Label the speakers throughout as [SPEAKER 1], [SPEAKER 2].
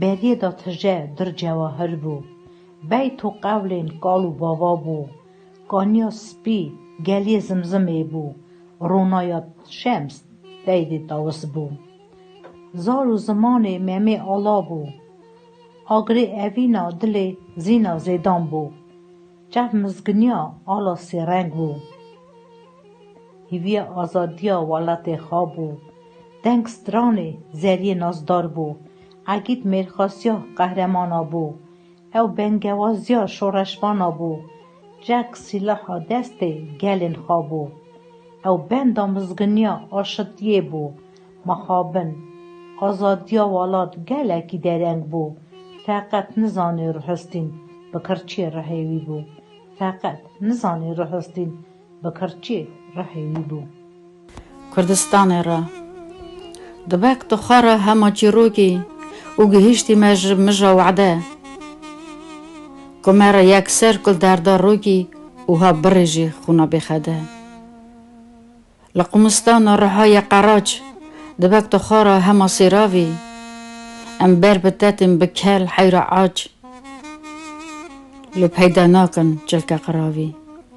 [SPEAKER 1] Beriyê da tije dir cewahir bû. Beyt û qewlên kal û bava bû. Kaniya spî geliyê zimzimê bû. Ronaya şems deydê tawis bû. Zar û zimanê Memê Ala bû. Agirê evîna dilê Zîna Zêdan bû. Çav mizginiya Ala Sêreng bû. Hêviya azadiya welatê xwe bû. Deng stranê Zeriyê nazdar bû. Egîd mêrxasiya qehremana bû. Ew bengewaziya şoreşvana bû. Rek sîlaha destê gelên xwe bû. Ew benda mizginiya aşitiyê bû. Mixabin, azadiya welat gelekî dereng bû. Feqet nizanî ruhistîn bi kirçiyê rihêwî bû. Feqet nizanî ruhistîn. Bi kirçê rehê wî bû. Kurdistanê
[SPEAKER 2] re. Dibek tu xwe re hema çîrokî û gihîştî me ji mija wede ku me re yekser kul derda rokî û ha birê jî xwûna bêxede. Li Qumistana riha ye qeraç, dibek tu xwe re hema sêravî. Em ber bi tetên bi kel heyra aç li peyda nakin çilke qiravî.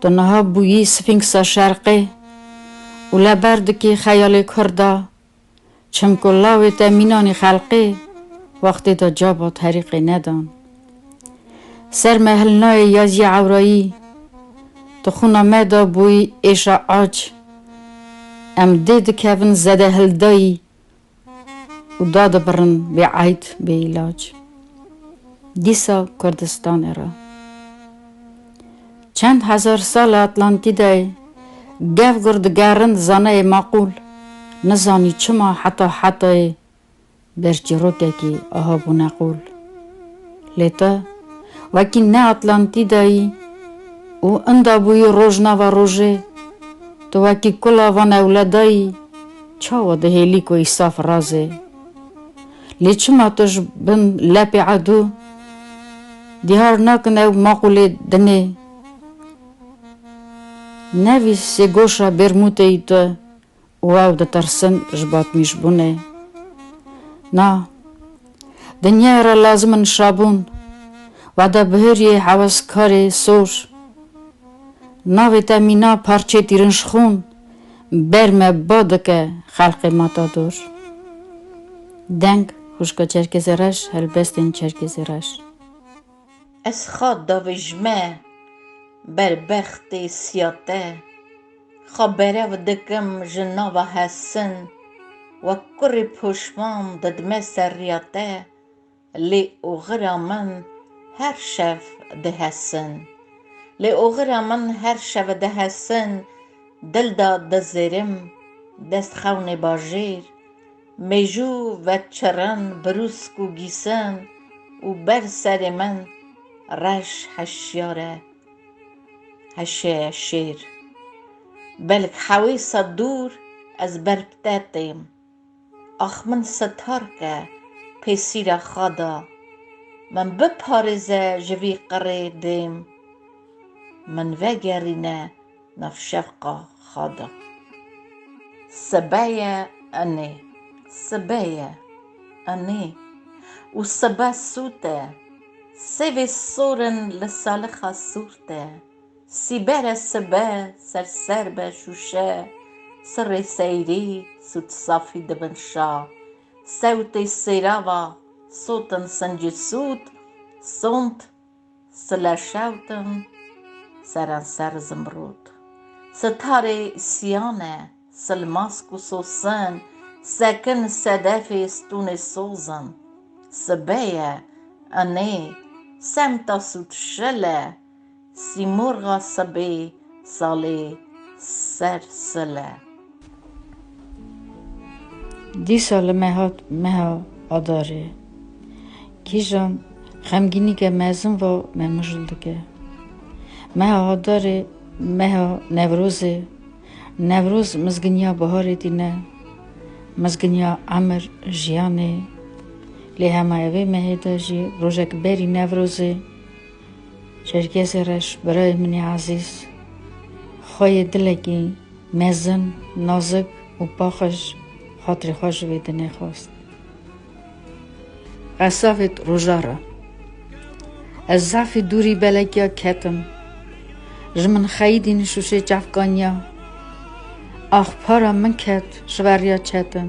[SPEAKER 2] Tu niha bûyî Sfînksa Şerqê û li ber dikî xeyalê kurd a, çimku lawê te mînanî xelqê wextê de cabat herîqê nedan. Ser me hilnayê Yazî Ewrayî, Tu xwina me de bûyî êşa ac. Em dê dikevin zedehildayî û da dibirin bê eyd bê îlac. Dîsa Kurdistanê re. Çend hezar sal li Atlantîdayê gev gur digerin zaneyê maqûl nizanî çima heta hetayê ber çîrokekî aha bûne qûl. Lê te wekî ne Atlantîdayî û inda bûyî rojnava rojê, tu wekî kula van ewledayî, Çawa dihêlî ku îsaf raz e? Lê çima tu ji bin lepê edû dîhar nakin ew maqûlê din ê? Nevî sêgoşa bêrmûteyî tu û ew ditirsin ji batmîjbûnê. Na, dinyaya re lazim in şabûn, wada bihêriyê heweskarê sor. Navê te mîna parçeyê tîrinşxûn. Ber me ba dike xelqê Matador. Deng, Xwişka Çerkêzê Reş, Helbestên Çerkêzê Reş.
[SPEAKER 3] Ez xa davijme ber bextê siya te, xa berev dikim ji nava hesin, wek kurê poşman didime ser riya te, Lê oxira min her şev dihesin. Lê oxira min her şev dihesin Dil da dizêrim dest xewnê bajêr Mêjû ve çirin birûsk û gîsin Û ber serê min reş heşyare heşê şêr Belk hewê sed dûr ez ber pte têm. Ax min setar ke pêsîra xwe da, min biparêze ji vî qirê bêm, min vegerîne nav şevqa xwe da. Sebe ye enê, sebe ye enê û sebe sût e, sêvê sor in li salixa sûrt e. Sîbere sibe ser ser be şûşe Sirrê seyrî sût safî dibin şa Sewtê sêrava sotin sincî sût Sont sile şewtin serenser zimrût Sitarê siyane sil mask û sosin Sekin sedefê stûnê sozin Sibe ye inê semta sût şile Sîmorxa sebê salê ser sile.
[SPEAKER 2] Dîsa li me hat meha Adarê. Kîjan xemgînîke mezin va me mijûl dike. Meha Adarê meha Newrozê. Newroz mizginiya biharê tîne. Mizginiya emir, jiyanê. Lê hema evê mehê de jî rojek berî Newrozê. Çerkêzê reş birayê min ê ezîz, xwe yê dilekî mezin, nazik û paqij xatirê xwe ji wê dinê xwest. Qesa vêt roja re ez zafî dûrî belekiya ketim, ji min xeyîdî nişûşê çavkaniya ax para min ket ji ver riya çetin.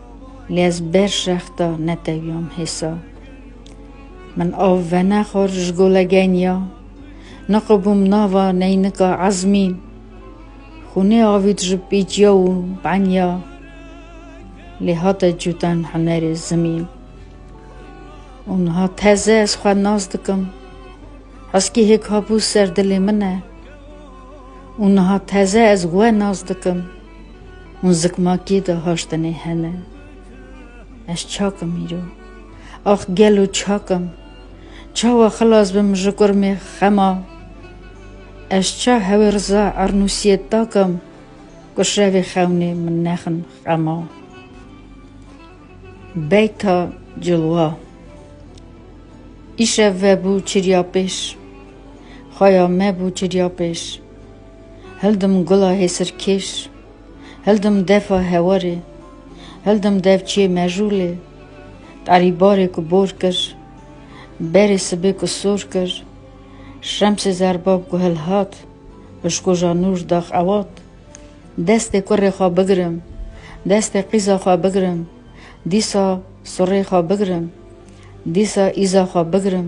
[SPEAKER 2] Lê ez ber şexta netewiyam hêsa. Min av venexwar ji gola geniya. Niqibûm nava neynika ezmî. Xûnê avî dijî pîciya û beniya. Lê hate cûtan hunerê zimî. Û niha teze ez xwe nas dikim. Heskî hêk habû ser dilê min e. Û niha teze ez we nas dikim. Hûn zikmakê de haştinê hene. Ez çak im îro. Ax gelo çak im. Çawa xilas bim ji kurmê xema. Ez ça hewê Riza Ernûsiyê dakim ku şevê xewnê min nexin xema. Beyta cilwa. Îşev vebû çirya pêş. Xweya me bû çirya pêş. Hildim gula hêsirkêş. Hildim defa hewarê. Hildim devçiyê mejûlê. Tarî barê ku bor kir. Berê sibê ku sor kir. Şemsê zerbab ku hilhat. Pişkoja nûr da xewat. Destê kurê xwe bigirim. Destê qîza xwe bigirim. Dîsa surê xwe bigirim. Dîsa îza xwe bigirim.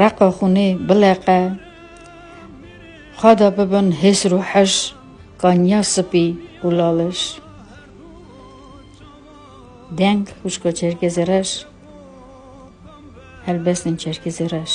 [SPEAKER 2] reqa xûnê bileqe, xada bibin hêsr û heş, qanya sipî û laliş. Deng xuşka Çerkezê reş, helbestên Çerkezê reş.